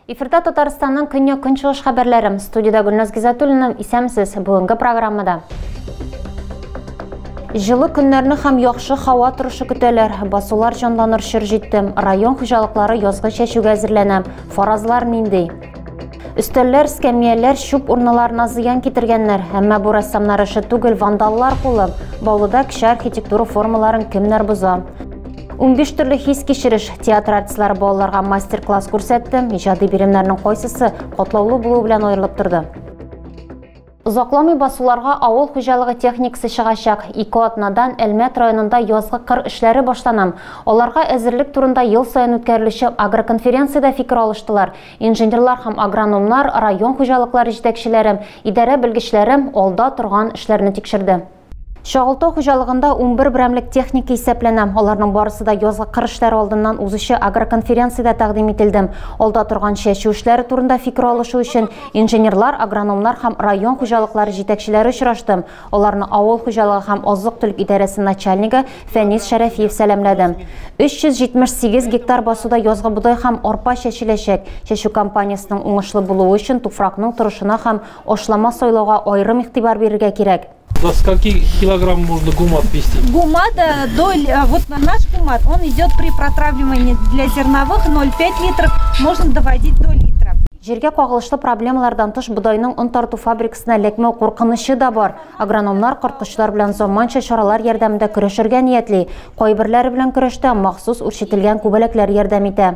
Эфирда Татарстанның көньяк көнчыгыш хәбәрләре. Студиядә Гөлназ Гизатуллина, исәмсез. Бүгенге программада Җылы көннәрне һәм яхшы һава торышы көтәләр. Басулар җанланыр чор җитте. Район хуҗалыклары язгы чәчүгә әзерләнә. Фаразлар нинди? Өстәлләр, скамияләр, чүп урныларына зыян китергәннәр, әмма бу рәссамнар эше түгел, вандаллар кулы. Баулыда кеше архитектура формаларын кемнәр боза? 15 төрле хис кичереш театр артистлары балаларга мастер-класс күрсәтте. Иҗади биремнәрнең кайсысы катлаулы булу белән аерылып торды? Озакламый басуларга авыл хуҗалыгы техникасы чыгачак. Ике атнадан Әлмәт районында язгы кыр эшләре башлана. Аларга әзерлек турында ел саен үткәрелүче агроконференциядә фикер алыштылар. Инженерлар һәм агрономнар, район хуҗалыклары җитәкчеләре, идарә белгечләре алда торган эшләрне тикшерде. Чагылтау хуҗалыгында унбер берәмлек техника исәпләнә. Аларның барысы да язгы кыр эшләре алдыннан узучы агроконференциядә тәкъдим ителде. Алда торган чәчү эшләре турында фикер алышу өчен инженерлар, агрономнар һәм район хуҗалыклары җитәкчеләре очрашты. Аларны авыл хуҗалыгы һәм азык-төлек идарәсе начальнигы Фәнис Шәрәфиев сәламләде. 378 гектар басуда язгы бодай һәм арпа чәчеләчәк. Чәчү кампаниясенең уңышлы булуы өчен туфракның торышына һәм Ашлама сайлауга аерым игътибар бирергә кирәк. До скольки килограмм можно гумат вести? Гумат, э, до, э, вот наш гумат, он идет при протравливании для зерновых 0,5 литров, можно доводить до литра. Җиргә кагылышлы проблемалардан тыш бодайның он тарту фабрикасына ләкмәү куркынычы да бар. Агрономнар корткычлар белән заманча чаралар ярдәмендә көрәшергә ниятли. Кайберләре белән көрәштә махсус үрчетелгән күбәләкләр ярдәм итә.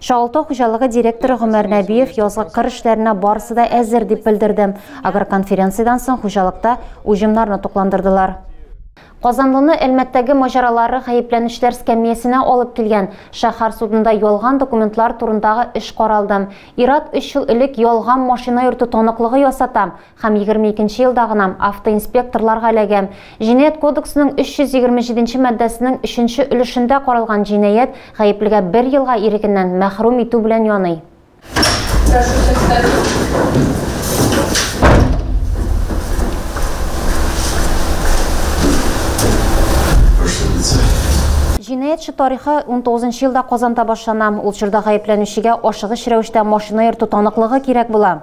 Чалты хуҗалыгы директоры Гомәр Нәбиев язгы кыр эшләренә барысы да әзер дип белдерде. Агроконференциядән соң хуҗалыкта уҗымнарны тукландырдылар. Казанлыны Әлмәттәге маҗаралары гаепләнүчеләр скамиясенә алып килгән. Шәһәр судында ялган документлар турындагы эш каралды. Ир-ат өч ел элек ялган машина йөртү таныклыгы ясата, Һәм егерме икенче елда гына автоинспекторларга эләгәм. Җинаять кодексының 327 нче маддәсенең өченче өлешендә каралган җинаять гаеплегә бер елга ирегеннән мәхрүм итү белән яный. Прошу всех встать. Җинаятьче тарихы унтугызынчы елда Казанда башлана. Ул чорда гаепләнүчегә ашыгыч рәвештә машина йөртү таныклыгы кирәк була.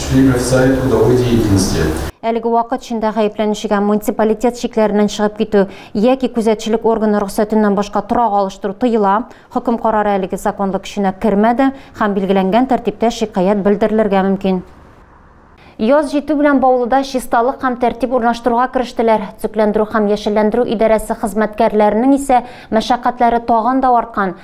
Шли мерцают трудовой деятельности. Әлеге вакыт эчендә гаепләнүчегә муниципалитет чикләреннән чыгып китү яки күзәтчелек органы рөхсәтеннән башка торак алыштыру тыела. Хөкем карары әлеге законлы көченә кермәде һәм билгеләнгән тәртиптә шикаять белдерелергә мөмкин. Яз җитү белән Баулыда чисталык һәм тәртип урнаштыруга керештеләр. Төзекләндерү һәм яшелләндерү идарәсе хезмәткәрләренең исә мәшәкатьләре тагын да арткан.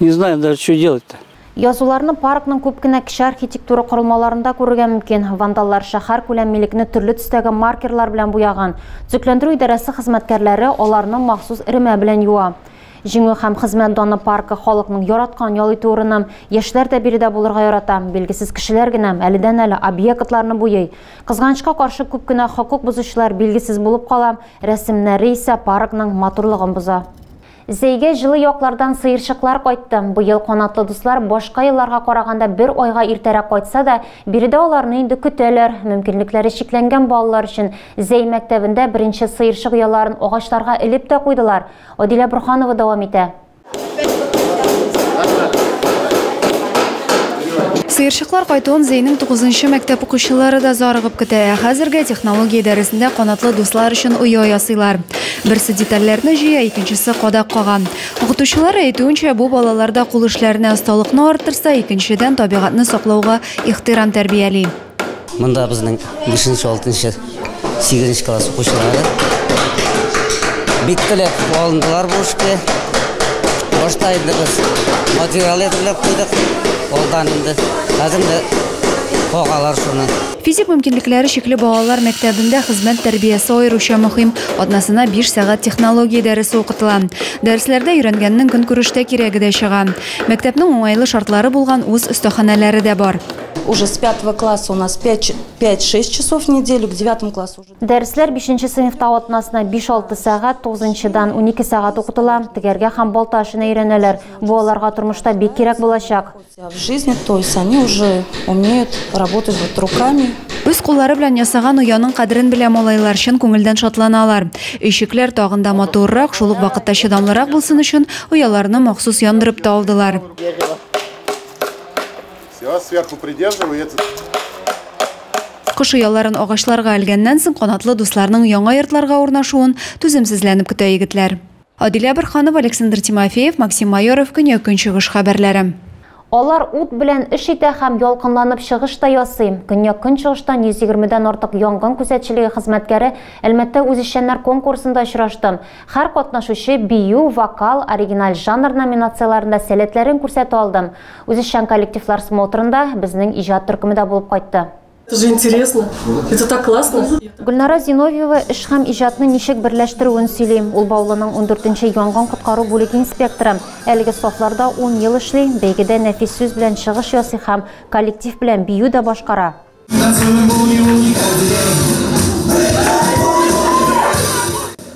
Не знаем даже, что делать-то. Язуларны паркның күп кенә кече архитектура корылмаларында күрергә мөмкин. Вандаллар шәһәр күләм милекне төрле төстәге маркерлар белән буяган. Төзекләндерү идарәсе хезмәткәрләре аларны махсус эремә белән юа. Җиңү һәм хезмәт даны паркы халыкның яраткан ял итү урыны. Яшьләр дә биредә булырга ярата. Билгесез кешеләр генә әледән-әле объектларны буйый. Кызганычка каршы күп кенә хокук бозучылар билгесез булып кала, рәсемнәре исә паркның матурлыгын боза. Зәйгә җылы яклардан сыерчыклар кайтты. Быел канатлы дуслар башка елларга караганда бер айга иртәрәк кайтса да, биредә аларны инде көтәләр. Мөмкинлекләре чикләнгән балалар өчен Зәй мәктәбендә беренче сыерчык ояларын агачларга элеп тә куйдылар. Адилә Борһанова дәвам итә. Сыерчыклар кайтуын Зәйнең тугызынчы мәктәп укучылары да зарыгып көтә. Ә хәзергә технология дәресендә канатлы дуслар өчен оя ясыйлар. Берсе детальләрне җыя, икенчесе кадак кага. Укытучылар әйтүенчә, бу балаларда кул эшләренә осталыкны арттырса, икенчедән, табигатьне саклауга ихтирам тәрбияли. Монда безнең бишенче, алтынчы, сигезенче класс укучылары бик теләп алындылар бу эшкә. Башта инде без материал әзерләп куйдык, алдан инде. Хәзер инде кагалар шуны. Физик мөмкинлекләре чикле балалар мәктәбендә хезмәт тәрбиясе аеруча мөһим. Атнасына биш сәгать технология дәресе укытыла. Дәресләрдә өйрәнгәннең көнкүрештә кирәге дә чыга. Мәктәпнең уңайлы шартлары булган үз остаханәләре дә бар. Уже с пятого класса у нас пять, пять, шесть часов в неделю, к девятому классу уже. Дәресләр бишенче сыйныфта атнасына биш-алты сәгать, тугызынчыдан унике сәгать укытыла. Тегәргә һәм балта эшенә өйрәнәләр. Бу аларга тормышта бик кирәк булачак. Үз куллары белән ясаган ояның кадерен белә малайлар, чын күңелдән шатланалар. Өйчекләр тагын да матуррак, шул ук вакытта чыдамлырак булсын өчен, ояларны махсус яндырып та алдылар. Кош ояларын агачларга элгәннән соң, канатлы дусларның яңа йортларга урнашуын түземсезләнеп көтә егетләр. Адилә Борһанова, Александр Тимофеев, Максим Майоров, Көньяк-Көнчыгыш хәбәрләре. Алар ут белән эш итә һәм ялкынланып чыгыш та ясый. Көньяк-Көнчыгыштан 120 дән артык янгын күзәтчелеге хезмәткәре Әлмәттә үзешчәннәр конкурсында очрашты. Һәр катнашучы бию, вокал, оригиналь жанр номинацияләрендә сәләтләрен күрсәтә алды. Үзешчән коллективлар смотрында безнең иҗат төркеме дә булып кайтты. Гөлнара Зиновьева эш һәм иҗатны ничек берләштерүен сөйли. Ул Баулының ундүртенче янгын коткару бүлеге инспекторы. Әлеге сафларда ун ел эшли, бәйгедә нәфис сүз белән чыгыш ясый һәм коллектив белән бию дә башкара.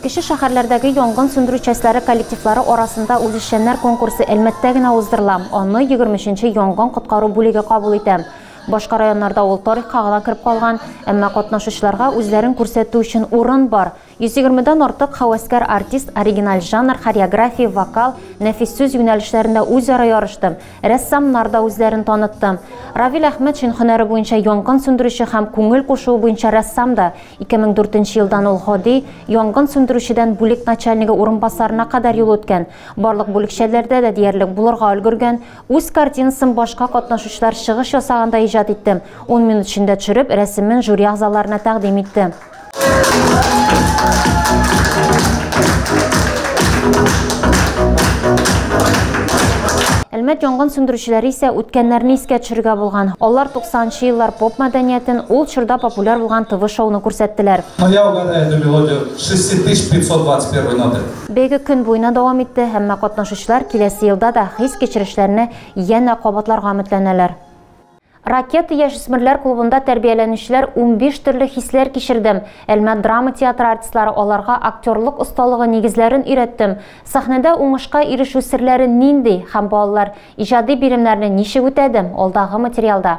Кече шәһәрләрдәге янгын сүндерү частьләре коллективлары арасында үзешчәннәр конкурсы Әлмәттә генә уздырыла. Аны егерме өченче янгын коткару бүлеге кабул итә. Башка районнарда ул тарихка гына кереп калган, әмма катнашучыларга үзләрен күрсәтү өчен урын бар. 120 дән артык һәвәскәр артист оригиналь жанр, хореография, вокал, нәфис сүз юнәлешләрендә үзара ярышты. Рәссамнар да үзләрен танытты. Равил Әхмәтшин һөнәре буенча янгын сүндерүче һәм күңел кушуы буенча рәссам да. 2004 нче елдан ул гади янгын сүндерүчедән бүлек начальнигы урынбасарына кадәр юл үткән. Барлык бүлекчәләрдә дә диярлек булырга өлгергән. Үз картинасын башка катнашучылар чыгыш ясаганда иҗат итте. Ун минут эчендә төшереп, рәсемен жюри әгъзаларына тәкъдим итте. Әлмәт янгын сүндерүчеләре исә үткәннәрне искә төшерергә булган. Алар 90 нчы еллар поп мәдәниятен, ул чорда популяр булган ТВ-шоуны күрсәттеләр. Моя угарная эта мелодия 6521 ноты. Бәйге көн буена дәвам итте, әмма катнашучылар киләсе елда да хис-кичерешләрне янә кабатларга өметләнәләр. Ракета яшүсмерләр клубында тәрбияләнүчеләр унбиш төрле хисләр кичердем, Әлмәт драма театры артистлары аларга актерлык осталыгы нигезләрен өйрәттем, сәхнәдә уңышка ирешү серләре нинди һәм балалар иҗади биремнәрне ничек үтәде, алдагы материалда.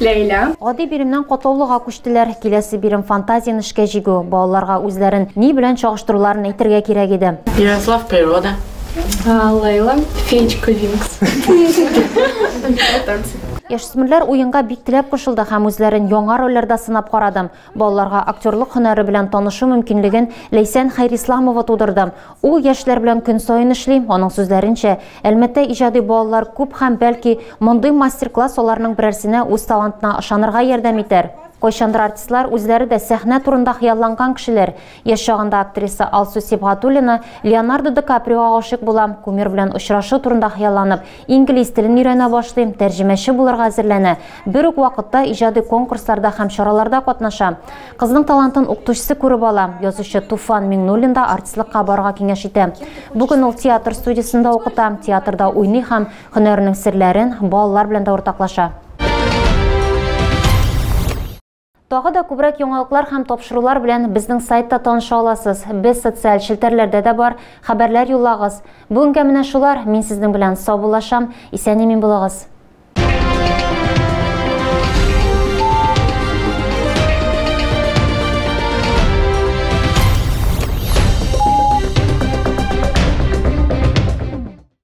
Ләйлә. Гади биремнән катлаулыга күчтеләр. Киләсе бирем фантазияне эшкә җигү. Балаларга үзләрен ни белән чагыштыруларын әйтергә кирәк иде. Ярослав природа. Ләйлә феечка Винкс. Яшүсмерләр уенга бик теләп кушылды һәм үзләрен яңа рольләрдә сынап карады. Балаларга актерлык һөнәре белән танышу мөмкинлеген Ләйсән Хәйрисламова тудырды. Ул яшьләр белән көн саен эшли. Аның сүзләренчә, Әлмәттә иҗади балалар күп һәм, бәлки, мондый мастер-класс аларның берәрсенә үз талантына ышанырга ярдәм итәр. Кайчандыр артистлар үзләре дә сәхнә турында хыялланган кешеләр. Яшь чагында актриса Алсу Сибгатуллина Леонардо Ди Каприога гашыйк булам, кумир белән очрашу турында хыялланып, инглиз телен өйрәнә башлыйм, тәрҗемәче булырга әзерләнә, бер үк вакытта иҗади конкурсларда һәм чараларда катнаша. Кызның талантын укытучысы күреп ала, язучы Туфан Миңнуллин да артистлыкка барырга киңәш итә. Бүген ул театр студиясендә укыта, театрда уйный һәм һөнәренең серләрен балалар белән дә уртаклаша. Тагы да күбрәк яңалыклар һәм тапшырулар белән безнең сайтта таныша аласыз. Без социаль челтәрләрдә дә бар. Хәбәрләр юллагыз. Бүгенгә менә шулар. Мин сезнең белән саубуллашам. Исән-имин булыгыз.